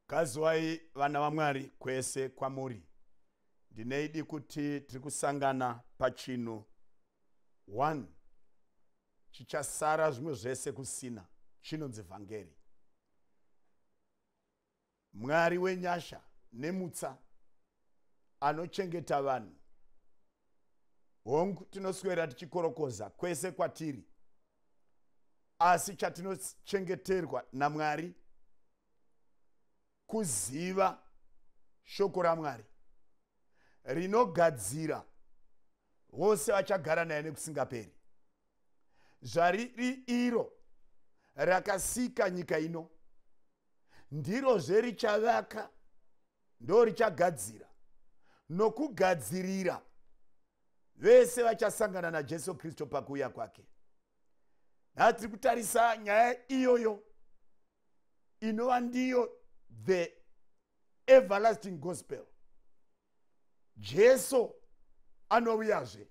Gadziwai vana vaMwari kwese kwamuri. Ndineidi kuti tiri kusangana pachinhu one chichasara zvimwe zvese kusina chinonzi vhangeri. Mwari wenyasha nemutsa anochengeta vanhu hongu tinoswera tichikorokoza kwese kwatiri asi chatinochengeterwa namwari kuziva shoko ramwari rinogadzira vose vachagara naye nekusingaperi zvariri iro rakasika nyika ino ndirozve richavaka ndo richagadzira nokugadzirira vese vachasangana najesu kristu pakuuya kwake naa tiri kutarisa nyaya iyoyo inova ndiyo the everlasting gospel jesu anouyazve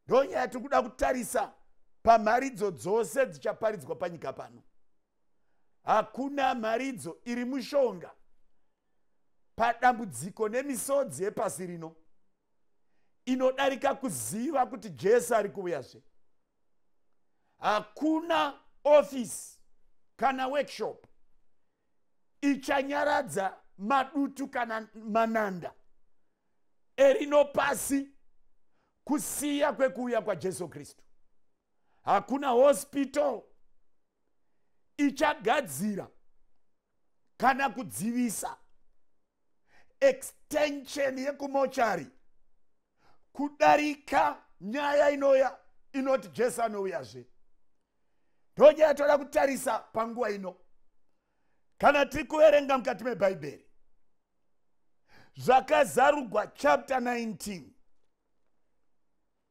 ndonyaya tiri kuda kutarisa pamharidzo dzose dzichaparidzwa panyika pano hakuna mharidzo iri mushonga padambudziko nemisodzi yepasi rino inodarika kuziva kuti jesu ari kuuyazve hakuna ofisi kana workshop ichanyaradza madutu kana mananda erino pasi kusiya kwekuuya kwajesu kristu hakuna hospital ichagadzira kana kudzivisa extension yekumochari kudarika nyaya inoya inoti jesu anouyazve ndonyaya toda kutarisa panguva ino kana tiri kuverenga mukati mebhaibheri zvakazarugwa chapter 19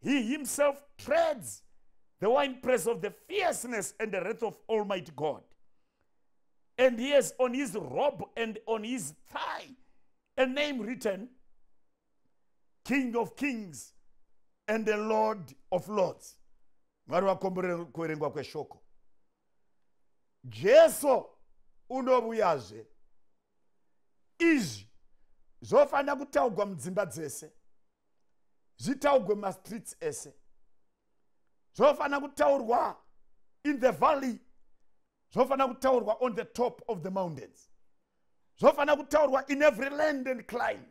he himself treads the wine press of the fierceness and the wrath of Almighty God. And he has on his robe and on his thigh a name written King of Kings and the Lord of Lords. Mwari wakomborera kuverengwa kweshoko. Jesu unovuyazve. Izvi zvofanira kutaugwa mudzimba dzese. zvitaugwe mumastreets ese zvofanira kutaurwa in the valley zvofanira kutaurwa on the top of the mountains zvofanira kutaurwa in every land and climb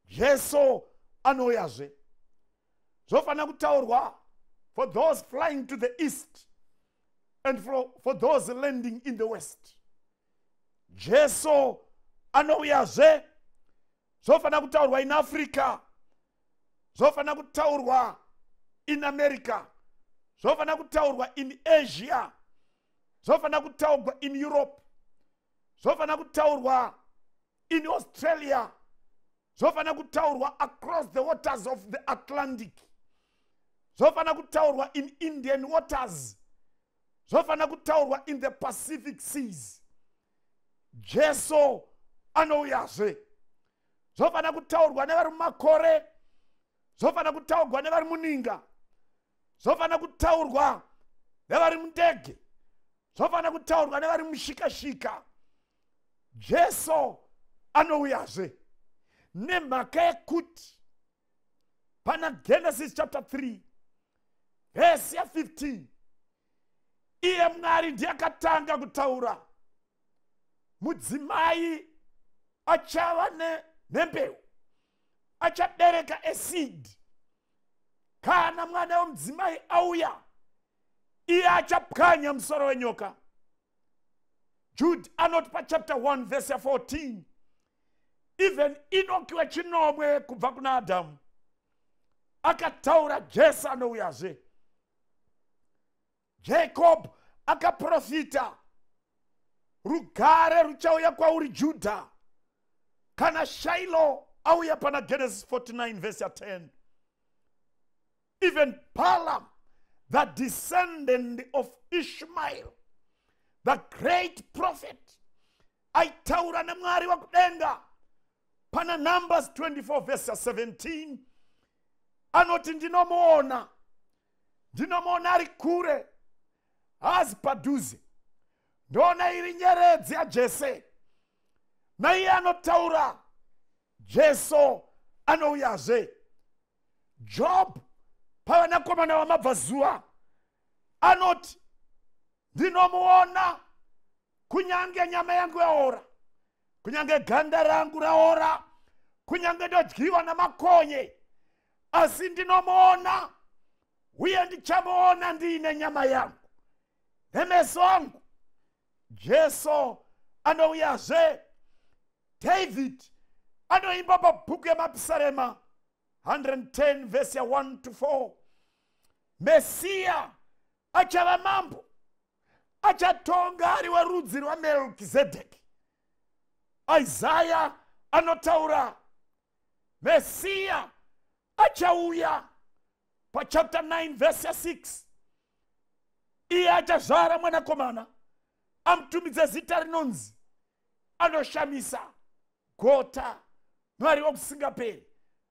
jesu anouyazve zvofanira kutaurwa for those flying to the east and for, for those landing in the west jesu anouyazve zvofanira kutaurwa in africa zvofanira kutaurwa in america zvofanira kutaurwa in asia zvofanira kutaurwa in europe zvofanira kutaurwa in australia zvofanira kutaurwa across the waters of the atlantic zvofanira kutaurwa in indian waters zvofanira kutaurwa in the pacific seas jesu anouyazve zvofanira kutaurwa nevari mumakore zvofanira kutaurwa nevari muninga zvofanira kutaurwa nevari mundege zvofanira kutaurwa nevari mushikashika jesu anouyazve nemhaka yekuti pana genesis chapter 3 vhesi ya 15 iye mwari ndiye akatanga kutaura mudzimai achava nembeu achabereka esid kana mwana wemudzimai auya iye achapwanya musoro wenyoka jude anoti pachapter 1 vese 14 even inoki wechinomwe kubva kuna adhamu akataura jesu anouyazve jacob akaprofita rugare ruchauya kwauri judha kana shailo auya pana genesis 49 vhesi ya 10 even palam the descendant of ishmael the great prophet aitaura nemwari wakudenga pana numbers 24 vese 17 anoti ndinomuona ndinomuona ari kure haazi padhuze ndoona iri nyeredzi yajese naiye anotaura jesu anouyazve job pavanakomana vamabva zuva anoti ndinomuona kunyange nyama yangu yaora kunyange ganda rangu raora kunyange ndodyiwa namakonye asi ndinomuona uye ndichamuona ndiine nyama yangu nemeso angu jesu anouyazve david anoimba pabhuku yemapisarema 110 vhesi ya 1 to 4 mesiya achava mambo achatonga ari werudzi rwamelkizedheki isaya anotaura mesiya achauya pachapter 9 vhesi ya 6 iye achazvara mwanakomana amutumidze zita rinonzi anoshamisa gota mwari wokusingaperi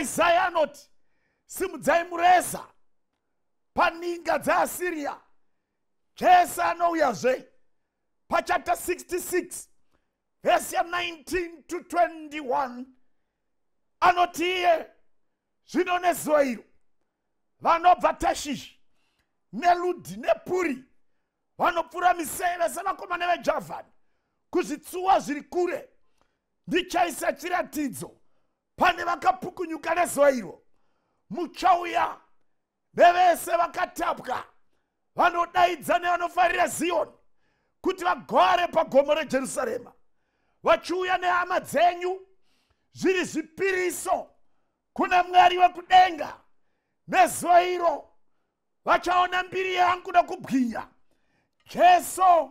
isaya anoti simudzai mureza paninga dzeasiriya zvese anouyazve pachapta 66 vhesi ya 19 to 21 anoti iye zvino nezuva iro vanobva tashishi neludhi nepuri vanopfura miseve sevakomana vejavhani kuzvitsuwa zviri kure ndichaisa chiratidzo pane vakapukunyuka nezuva iro muchauya nevese vakatapwa vanodaidza nevanofarira ziyoni kuti vagore pagomo rejerusarema vachiuya nehama dzenyu zviri zvipiriso kuna mwari wekudenga nezuva iro vachaona mbiri yangu nokubwinya jesu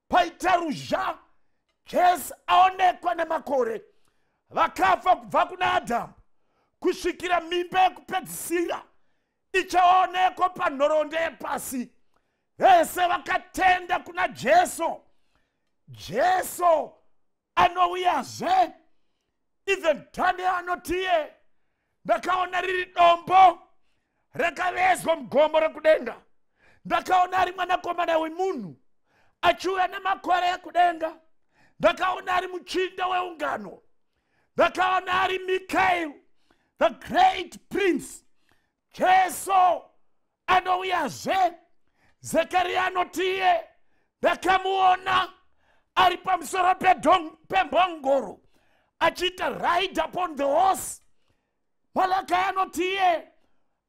paita ruzha jesu aonekwa nemakore vakafa kubva kuna adhamu kusvikira mimba yekupedzisira ichaonekwa panhoroondo yepasi vese vakatenda kuna jesu jesu anouyazve even tande anotiye ndakaona riri dombo rakavezwa mugomo rekudenga ndakaona ari mwanakomana wemunhu achiuya nemakore ekudenga ndakaona ari muchinda weungano ndakaona ari mikael the great prince jesu anouyazve zekariya anotiye ndakamuona ari pamusoro pembongoro achiita ride upon the horse malakai anotiye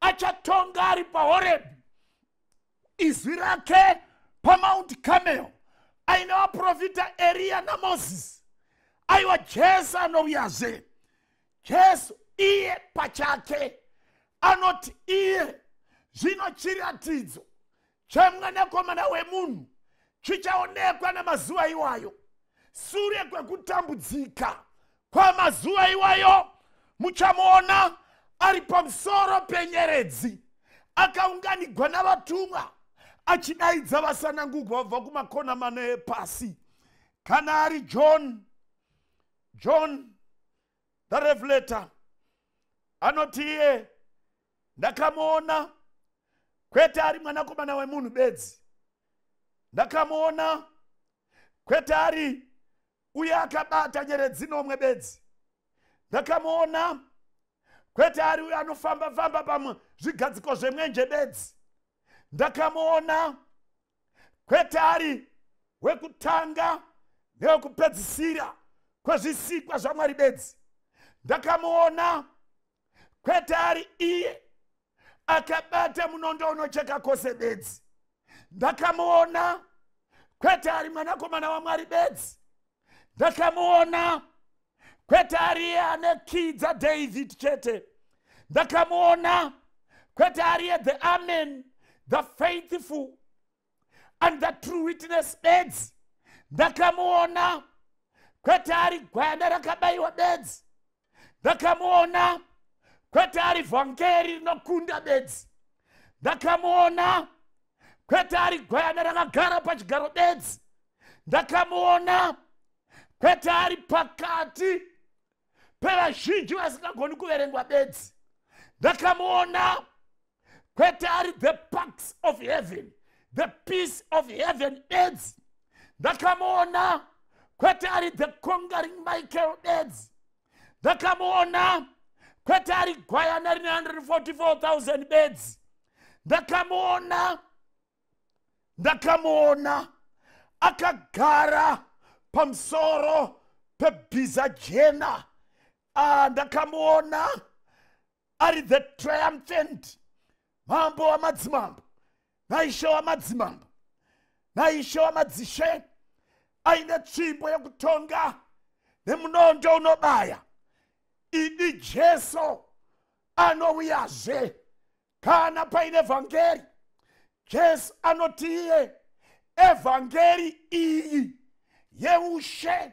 achatonga ari pahorebhi izwi rake pamount camel aine vaprofita eriya namozisi aiwa jesu anouyazve jesu iye pachake anoti iye zvino chiratidzo chemwanakomana wemunhu chichaonekwa nemazuva iwayo sure kwekutambudzika kwamazuva iwayo muchamuona ari pamusoro penyeredzi akaunganigwa navatumwa achidaidza vasanangugwa vabva kumakona mana epasi kana ari john john the revelator anoti iye ndakamuona kwete ari mwanakomana wemunhu bedzi ndakamuona kwete ari uye akabata nyeredzi nomwe bedzi ndakamuona kwete ari uye anofamba famba pamwe zvigadziko zvemwenje bedzi ndakamuona kwete ari wekutanga newekupedzisira kwezvisikwa zvamwari bedzi ndakamuona kwete ari iye akabata munondo unocheka kwose bedzi ndakamuona kwete ari mwanakomana wamwari bedzi ndakamuona kwete ariye ane kii dzadavid chete ndakamuona kwete ariye the amen the faithful and the true witness bedzi ndakamuona kwete ari gwayana rakabayiwa bedzi ndakamuona kwete ari vhangeri rinokunda bedzi ndakamuona kwete ari gwayana rakagara pachigaro bedzi ndakamuona kwete ari pakati pevazhinji vasingagoni kuverengwa bedzi ndakamuona kwete ari the parks of heaven the peace of heaven bedzi ndakamuona kwete ari the conquering michael bedzi ndakamuona kwete ari gwayana rine 144000 bedzi ndakamuona ndakamuona akagara pamusoro pebhiza jena ah, ndakamuona ari the triumphant mambo wamadzimambo naishe wamadzimambo naishe wamadzishe aine tsvimbo yekutonga nemunondo unobaya idi jesu anouyazve kana paine vhangeri jesu anoti iye evhangeri iyi yeushe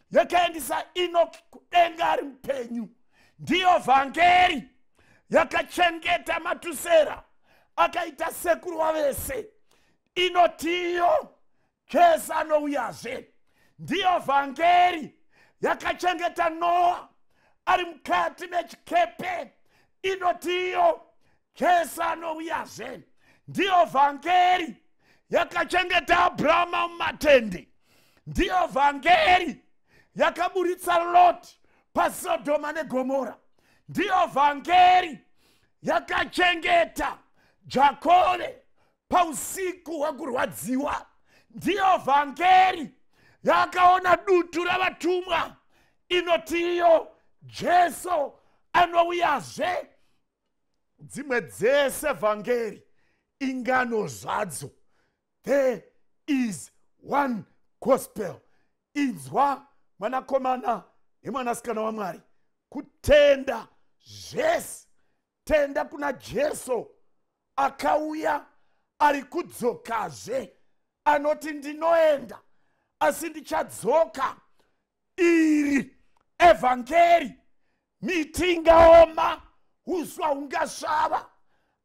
yakaendisa enoki kudenga ari mupenyu ndiyo vhangeri yakachengeta matusera akaita sekuru wavese inotiyo jesu anouyazve ndiyo vhangeri yakachengeta noa ari mukati mechikepe inotiyo jesu anouyazve ndiyo vhangeri yakachengeta abrahama mumatende ndiyo vhangeri yakaburitsa loti pasodhoma negomora ndiyo vhangeri yakachengeta jakove pausiku hwekurwadziwa ndiyo vhangeri yakaona dutu ravatumwa inotiyo jesu anouyazve dzimwe dzese vhangeri ingano zvadzo there is one gospel inzwa mwanakomana nemwanasikana wamwari kutenda zvese tenda kuna jesu akauya ari kudzokazve anoti ndinoenda asi ndichadzoka iri evhangeri miti ingaoma uswa hungasvava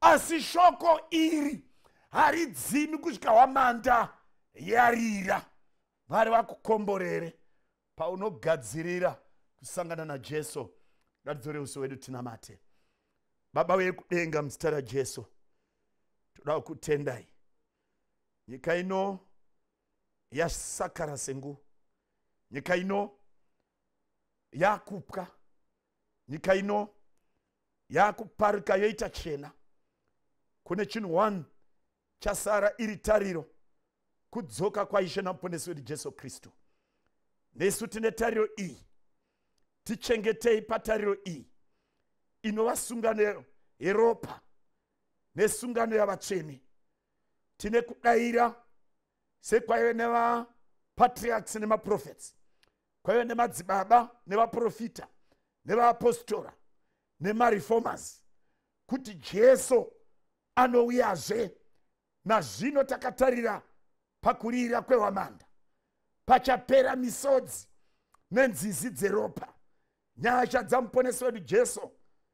asi shoko iri haridzimi kusvika hwamanda yarira mwari vakukomborere paunogadzirira kusangana najesu ngatidzore uso wedu tinamate baba vekudenga muzita rajesu toda kukutendai nyika ino yasakara sengu nyika ino yakupwa nyika ino yakuparika yoita chena kune chinhu one chasara iri tariro kudzoka kwaishe namuponesi wedu jesu kristu nesu tine tariro iyi tichengetei patariro iyi inova sungano yeropa nesungano yavatsvene tine kudaira sekwaive nevapatriarchs nemaprofets kwaive nemadzibaba nevaprofita nevaapostora nemareformers kuti jesu anouyazve nazvino takatarira pakurira kwehwamanda pachapera misodzi nenzizi dzeropa nyasha dzamuponesi wedu jesu